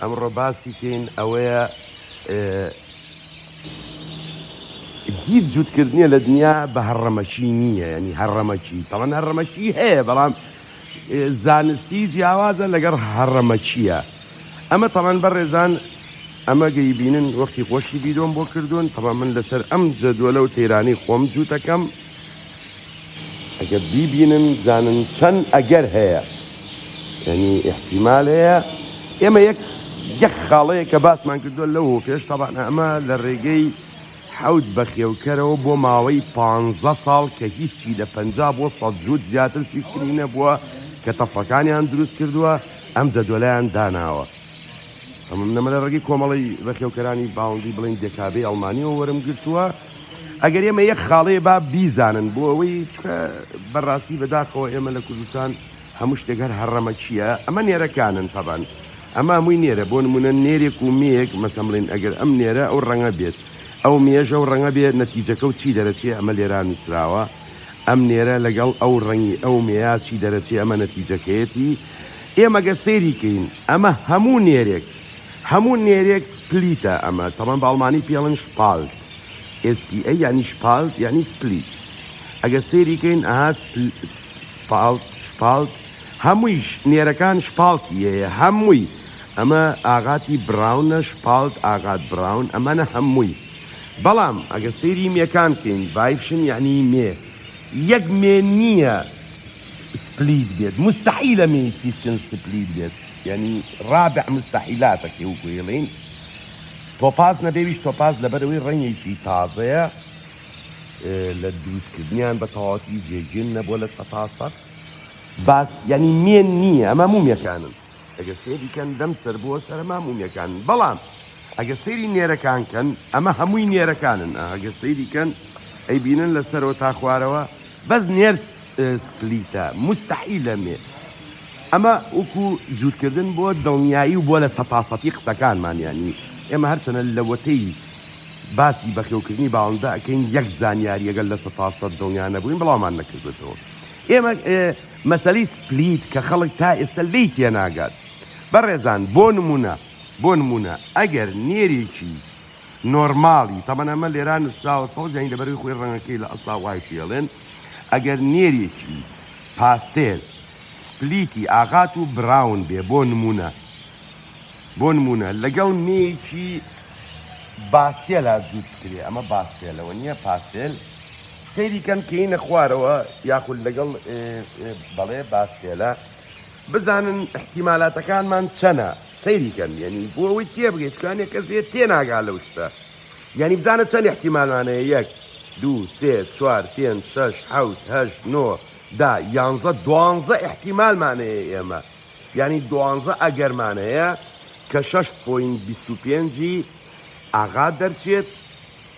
ئەمڕۆ باسی کەین ئەوەیە هیچ جووتکردنیە لە دنیا بە هەڕەمەکی نییە ینی هەڕەمەکی تەوان هەڕەمەکی هەیە بەڵام زانستی جیاوازە لەگەڵ هەڕەمەکیە ئەمە تەوان بەڕێزان ئەمە گەی بینن وەختی خۆشی بیرۆم بۆ کردوون تەوا من لەسەر ئەم جەدووە لەو تەیرانی خۆم جووتەکەم ئەگەر بیبینن بزانن چەند ئەگەر هەیە یعنی احتیمال هەیە ئێمە یەک یەک خاڵەیە کە باسمان کردووە لەو پێش تاوان ئەمە لە ڕێگەی حەوت بەخێوکەرەوە بۆ ماوەی پ ساڵ کە هیچی لە پ بۆ سە جووت زیاتر سیسکرینە بووە کە تەفەکانیان دروست کردووە ئەم جەدۆلەیان داناوە. ئەمم نەمرە ڕەگی کۆمەڵی ڕەخێوکەرانی باوندی بڵین دێکابێ ئەڵمانیەوە وەرم گرتووە ئەگەر ئێمە یەک خاڵەیە با بیزانن بۆ ئەوەی چکە بەڕاستی بەداخەوە ئێمە لە کوردستان هەموو شتێک هەر هەڕەمە چییە ئەمە نێرەکانن تەبان ئەمە مووی نێرە بۆ نمونە نێرێک و مێک مەسەمڵین ئەگەر ئەم نێرە ئەو ڕەنگە بێت ئەو مێژە و ڕەنگە بێت نەتیجەکە و چی دەرەچێ ئەمە لێرا نووسراوە ئەم نێرە لەگەڵ ئەو ڕەنگی ئەو مێیە چی دەرەچێ ئەمە نەتیجەکەیەتی ئێمە گەر سەیری کەین ئەمە هەموو نێرێک هەموو نێرێک سپلیتە ئەمە تەمان بە ئەڵمانی پێڵن شپالت SPA یعنی شپالت یعنی سپلیت ئەگەر سەیری کەین ئەها سپالت شپالت هەموویش نێرەکان شپالتی هەیە هەمووی ئەمە ئاغاتی براونە شپالت ئاغات براون ئەمانە هەمووی بەڵام ئەگەر سەیری مێکان کەین ڤایڤشن یەعنی مێ یەک مێ نییە سپلیت بێت موستەحیلە مێی سیسکن سپلیت بێت یەعنی ڕابع موستەحیلاتە کە وەکو ئێڵێین تۆپاز نەبێویش تۆپاز لەبەرەوەی ڕەنگێکی تازەیە لە دروستکردنیان بە تەواوەتی جێگیر نەبووە لە سەتا سەد باس یەعنی مێ نییە ئەمە مومێکانن ئەگەر سێری کەن دەم سەر بووە سەرما مومێکان بەڵام ئەگە سەیری نێرەکان کەن ئەمە هەمووی نێرەکانن ئەگە سەیری کەن ئەی بینن لە سەرەوە تا خوارەوە بەس نێر سپلیتە مستحی لە مێ ئەمە وەکو جوورکردن بۆ دڵنیایی و بۆ لە سەتاسەتی قسەکانمانیانی ئێمە هەرچەنە لەوەتەی باسی بەخێوکردنی باڵندە ئەەکەین یەک زانیاریەگەل لە سەتاسە دڵنیانە بووین بڵاومان نەکردێتەوە ئێمە مەسەلەی سپلیت کە خەڵک تا ئێستا لێی تێناگات بەڕێزان بۆ نموونە بۆ نموونە ئەگەر نێرێکی نۆرماڵی تەبەن ئەمە لێرا نووسراوە سەوزیانی لەبەروی خۆی ڕەنگەکەی لە ئەسا وای پێڵێن ئەگەر نێرێکی پاستێل سپلیتی ئاغات و براون بێ بۆ نمونە بۆ نمونە لەگەڵ نێکی باستێلا جووت بکرێ ئەمە باستێلەوە نییە پاستێل سەیری کەن کەینە خوارەوە یاخود لەگەڵ بەڵێ باستێلە بزانن احتیمالاتەکانمان چەنە سەیری کەن یعنی بۆ ئەوەی تێبگەیت چکانێ کەسێت تێناگا لەو شتە یعنی بزانە چەند احتیمالمانەیە یەک دوو سێ چوار پێنج شش حوت هەش نۆ دا یانزە دوانزە احتیمالمانەیە ئێمە یعنی دوانزە ئەگەرمانەیە کە 6.25 ئاغا دەرچێت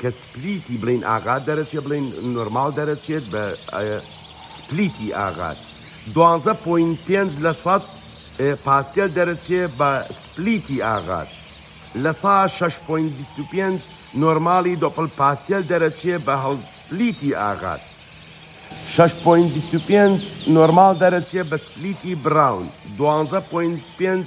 کە سپلیتی بڵێین ئاغات دەرەچێت بڵێین نۆرماڵ دەرەچێت بە سپلیتی ئاغات دوانزە پوین پێنج لە سەد پاسکێل دەرەچێ بە سپلیتی ئاغات لە سا شش پوین بیست و پێنج نۆرماڵی دۆپل پاسکێل دەرەچێ بە هەڵ سپلیتی ئاغات شش پوین بیست و پێنج نۆرماڵ دەرەچێ بە سپلیتی براون دوانزە پوین پێنج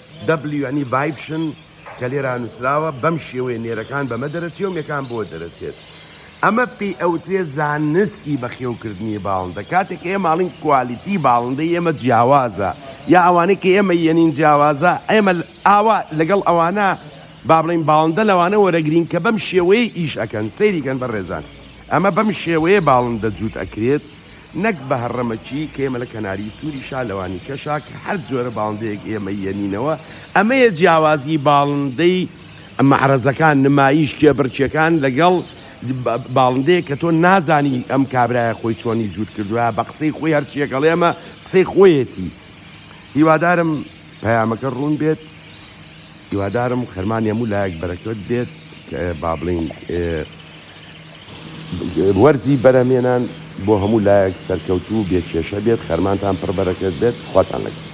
دەبلیو یانی ڤایبشن کە لێرا نووسراوە بەم شێوەیە نێرەکان بەمە دەرەچێ و مێکان بەوە دەرەچێت ئەمە پێی ئەوترێ زانستی بەخێوکردنی باڵندە کاتێک ئێمە ئاڵین کوالیتی باڵندەی ئێمە جیاوازە یا ئەوانەی کە ئێمە یەنین جیاوازە ئێمە ئاوا لەگەڵ ئەوانە با بڵین باڵندە لەوانە وەرەگرین کە بەم شێوەیە ئیش ئەکەن سەیریکەن بە ڕێزان ئەمە بەم شێوەیە باڵندە جووت ئەکرێت نەک بهرمکی کە ئێمە لە کەناری سوری شا لەوانی کەشا کە هەر جۆرە باڵندەیەک ئێمە یەنینەوە ئەمەیە جیاوازی باڵندەی مەعرەزەکان نمایش کێبڕکێکان لەگەڵ باڵندەیە کە تۆ نازانی ئەم کابرایە خۆی چۆنی جووت کردوە بە قسەی خۆی هەرچیەکەڵێمە قسەی خۆیەتی هیوادارم پەیامەکە ڕوون بێت هیوادارم خەرمانی هەموو لایەک بەرەکەت بێت کە با بڵێین وەرزی بەرهەمێنان بۆ هەموو لایەک سەرکەوتوو و بێ کێشە بێت، خەرمانتان پڕ بەرەکەت بێت، خواتان لەگەڵ.